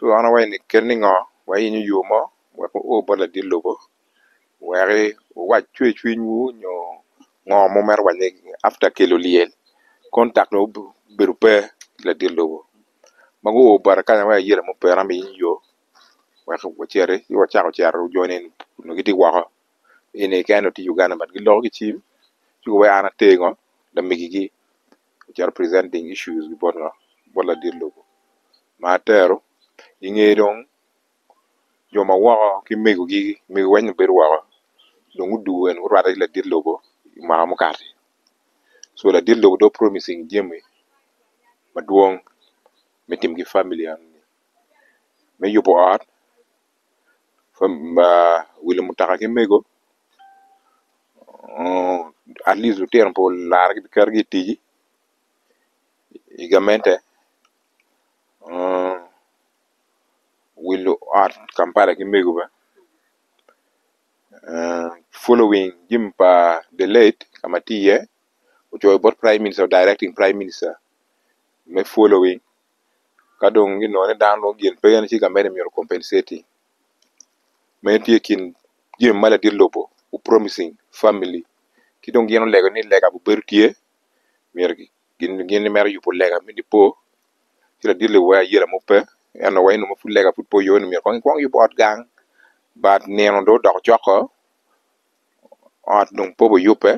lwongowa eni kel ni ngo wayenyo yo mo wek wu o bot ladit lobo wek wuwac cwer cwiny wu nyo ngo ma wumito waco after kelo lyel contact dong obedo pe ki ladit lobo ma gu o bota kanya ma ayello mo pera me yenyo yo wek wuciti ci wucako cito jo ni eni onongo giti woko eni keken dong tye Uganda but giloko ki cim ci kobo an ati ngo lamegi gi ocito presenting issues gi bot ngo bot ladit lobo ma atero inge dong jo ma woko ki mego gi mego weng obedo woko dong guduo en gurwate ki ladit lobo imwaka mukati so ladit lobo dong promising jami madwong me tim ki family enoni me yubo ot wi lumutoka ki mego atleast lutino pe olara ki keto ki i tic i gamente wi luot kampala ki mego bene following jami pa the late ka ma tye iye ocoyo bot prime minister directing prime minister me following ka dong ginongo ni dano dong gin pe en ci gamente myero o compensate-i, meno tye i kin jami ma ladit lobo gu promising family ci dong gin olego ni lega bu bedo tye myero gin gimito yubu lega me nipo ci ladit lobo weko aye lamub pe ento wa eno ma pud lega pud pe oyo ni myero kong ikwong iyub ot gang but nino dong odoko cok-ko ot dong pe wubiyubbe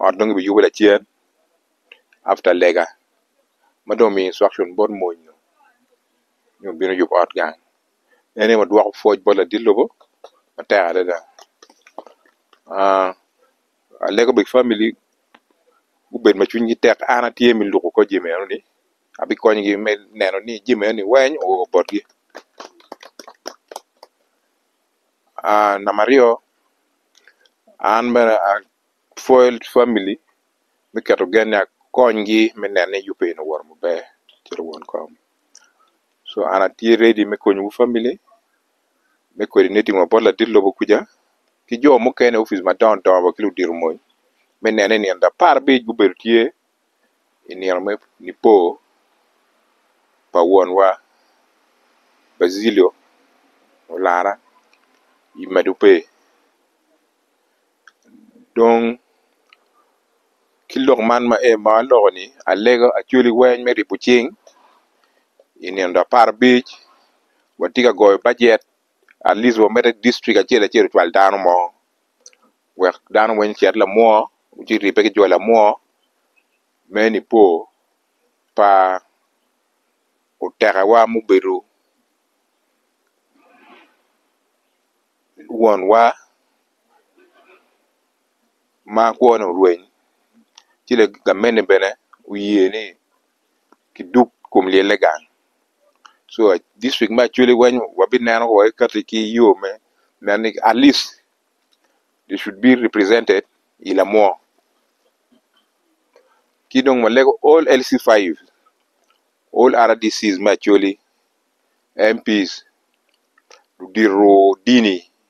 ot dong kibiyubo lacen after lega ma dong omiyo instruction bot mony nyo nyo bino yubo ot gang en aye ma dwoko pwoc bot ladit lobo matek adada aa alego bot family gubed ma cwinygi tek an atye me lubo kor jami eno ni abikonyogi me neno ni jami eno ni weng oo botgi aa namba aryo an bene Foiled Family me keto gen ni akonygi me neno ni yubbe eni owoto maber calo won kom so an atye ready me konyowu family me coordinating wa bot ladit lobo kuca ki jo mukene i opic madongo dongo wa ki ludito mony me neno ni nino apar abic gubedo tye i nino me Nipo pa wonwa Bazilio olara i medo pe. dong ki lok man ma aloko ni alego acwali weng me ryebo cing i nino dok apara abic watye ka goyo bajet atleast wa mede district acel acel ocwal dano mo wek dano weng ocit lamwoo ci ribbe ki jo lamwoo me nipo pa oteka wa mubedo won wa ma kwone orweny ci gamente bene oye ni ki duk kom lyelle gang so dictrict me acholi weng wabineno wai kati ki yo me nen ni at least they should be represented i lamwo ki dong walego all LC five all RDC me acholi, MP, diro dini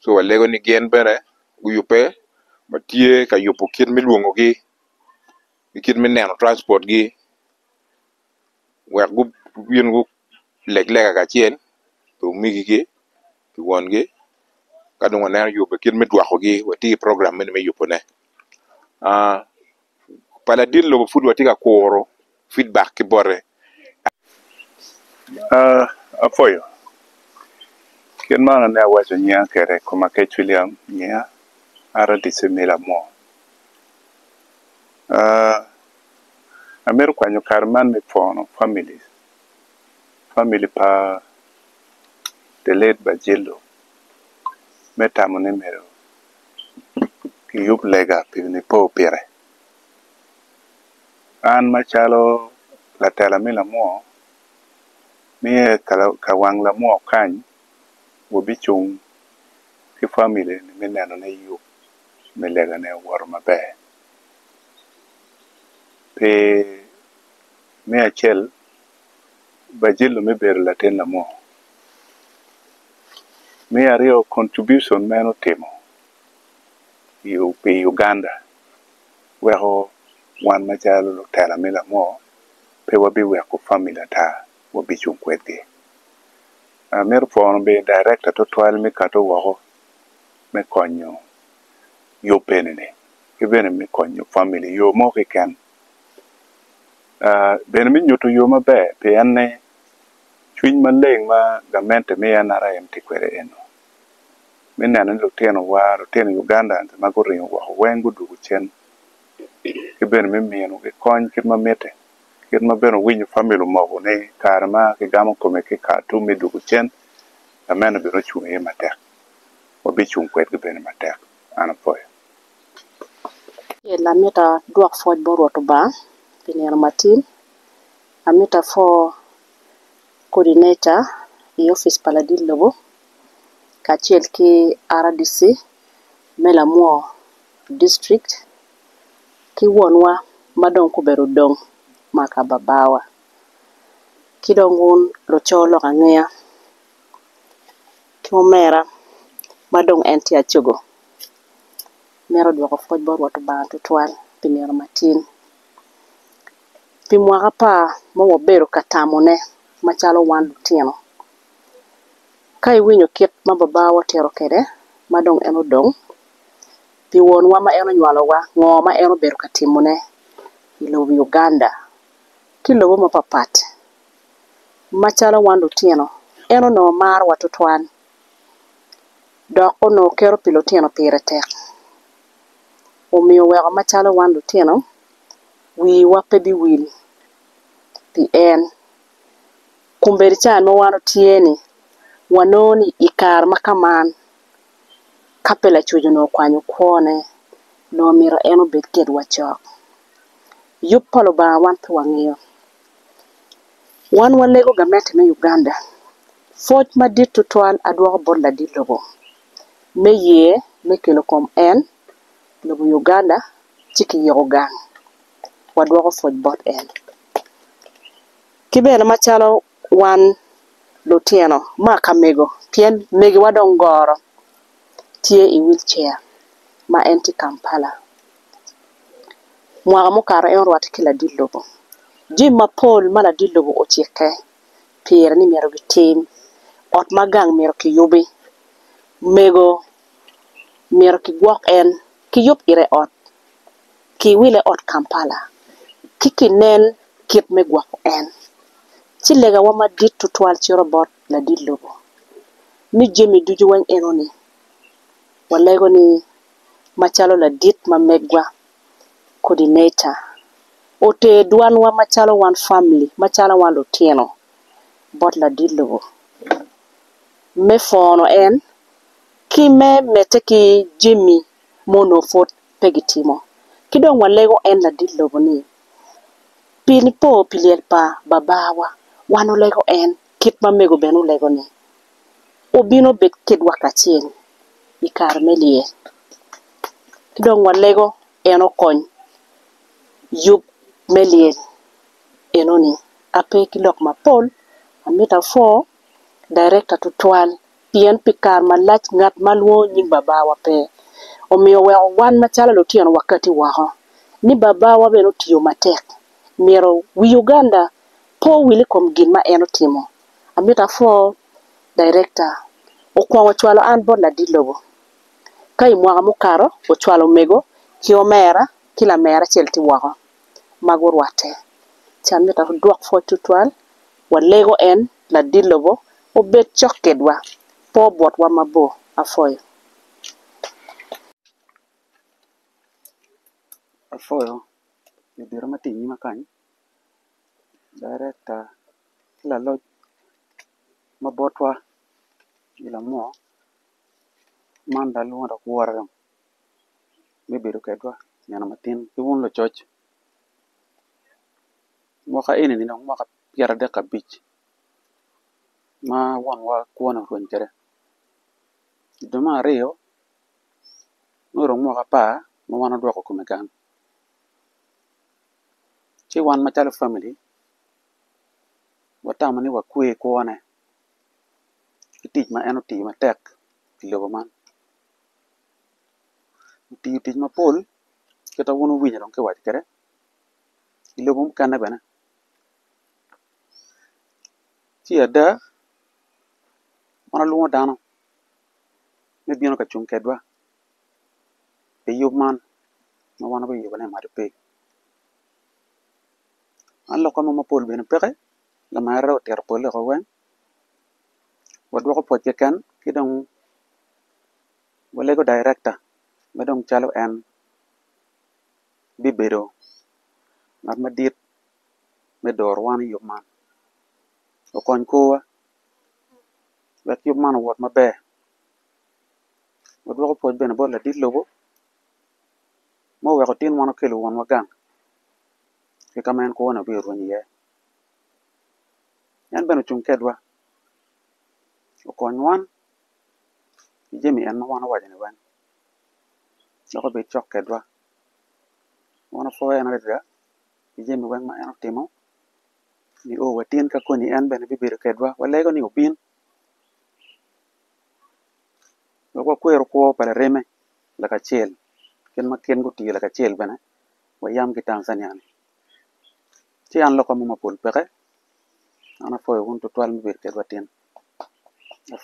ci walego ni gin bene guyubbe ma tye ka yubo kit me lwongogi ki kit me neno transpotgi wek gubin guleg lega kacel ki omegigi ki wongi ka dong waneno yubo kit me dwokogi wati i program meno me yubone. pa ladit lobo pud watye ka kuro feedback ki bote. Apwoyo kit ma an awaco nyinga kwede i koma Kec William nyinga Rdc me Lamwor. Amito kwanyo kare man me pwono family family pa the late Bajilo me tamo ni myero giyub lega pi Nipo pire. An macalo latela me lamwoo, myero ka wang lamwoo okany, wabicung ki famili ni me neno ni yub me legane owoto maber. Pi me acel bajilo me bedo latin lamor. Me aryo contribution ma en otimo pi Uganda weko wan macalo lutela me lamor pe wabiweko family ata wabicung kwedgi. Amito pwono bene director tutwal me kati woko me konyo yub eni ni ki bene me konyo family iyo mo keken bene me nyuto yo maber pi enne, cwiny maleng ma gamente me NRM tye kwede eno me neno ni lutinowa, lutino Ugandans ma guringo woko weng gudwogo cen ki bene me minogi kony kit ma mitte, kit ma bene owinyo famili omoko ni kare ma kigamo kome ki i Khartoum me dwogo cen, gamente bene ocung iye matek, wabicung kwedgi bene matek. An apwoyo. Acel, amito adwok pwoc bot Rwot Lubanga pi nino matin. Amito apwo Coordinator i opic pa ladit lobo kacel ki RDC me Lamwo District ki wonwa ma dong gubedo odong maka babawa ki dong wun luco lok angeya ki omera ma dong en tye acogo. mito dwoko pwod bot Rwot Lubanga twatwal pi nino matin. Pi mwaka apar ma wabedo ka tamone macalo wan lutino, ka iwinyo kit ma Babawa otito kwede ma dong en odong, pi wonwa ma en onywalowa, ngo ma en obedo ka timone i lobo Uganda ki lobo mapat pat, macalo wan lutino, en onongo marowa twatwal. dok onongo kero pi lutino pire tek. Omiyo oweko macalo wan lutino, wiwa pe biwil pi en. Kombeddi ca ma wan otye-ni, wanongo ni i kare ma ka man, ka pe lacoc onongo okwanyo kwone, onongo omyero en obed kedwa cok. Yub pa Lubanga wan pe wangeyo. Wan walego gamente me Uganda. Pwoc madit tutwal adwoko bot ladit lobo me ye me kelo kom en lobo Uganda ci kiyiko gang wadwoko pwoc bot en. Ki bene macalo wan lutino ma ka mego pien megiwa dong goro tye i wheelchair ma en tye i Kampala. mwaka mukato en orwatte ki ladit lobo jami mapol ma ladit lobo ocikke pire ni myero gitim, ot ma gang myero kiyubi, mego myero kigwok en ki yub ite ot ki wile i ot Kampala ci ki nen kit me gwoko en ci lega wa madit tutwal cito bot ladit lobo ni jami ducu weng enoni walego ni macalo ladit ma megwa coordinator oter dwanwa macalo wan family macalo wan lutino bot ladit lobo me pwono en ki me mete ki jami ma onongo pud pe gi timo ki dong wa lego en ladit lobo ni pi nipo pi lyel pa babawa wan olego en kit ma mego bene olego ni. wubino bed kitwa kacel i kare me lyel, ci dong walego en okony yub me lyel enoni. Ape ki lok mapol, amito apwo darekta tutwal pien pi kare malac ngat ma lwongo nying Babawa pe, omiyo oweko wan macalo lutino wakati woko ni Babawa bene otiyo matek myero wi Uganda po wil i kom gin ma en otimo. amito apwo Director okwongo ocwalo an bot ladit lobo ka i mwaka mukato ocwalo omego ki omera ki lamera acel tye woko ma gurwatte ci amito adwok pwod tutwal walego en ladit lobo obed cok kwedwa pe obwotwa mabor apwoyo. Darekta ki laloc ma botwa i lamok man dok lwongo dok wora dong me bedo kwedwa nino matin ki wun lucoc mwaka eni ni dong mwaka pyera dek ki abic ma wonwa kwone orweny kwede i dwe me aryo nongo dong mwaka apar ma wan wadwoko kome gang. ci wan macalo famili watamo ni wakwe i kwone ki tic ma en otiyo matek i lobo man otiyo tic mapol kita wun wuwinyo dong kiwaco kwede i lobo mukene bene ci ada wan walwongo dano me bino ka cung kwedwa. pi yub man ma wan wa biyubone i maco piny man lokke mo mapol bene peke lamerre otito pole woko weng wadwoko pwoc keken ki dong walego directa ma dong calo en bibedo ngat madit me doro wan i yub man okony korwa wek yub man owot maber Wadwoko pwoc bene bot ladit lobo ma oweko tin wan okelo wonwa gang ki ka ma en kwone obino rwenyo iye. En bene ocung kedwa okony wan ki jami en ma wan owaco-ni weng dok obed cok kedwa. Wan wapwoo en adada pi jami weng ma en otimo nio watin ka koni en bene bibedo kedwa. Walego ni obin. dok wakwero kwo pa lareme lakacel kit ma gin gutiyo lakacel bene wa yam ki Tanzania ni ci an lokka mo mapol peke an apwoyo wun tutwal me bedo kedwa tin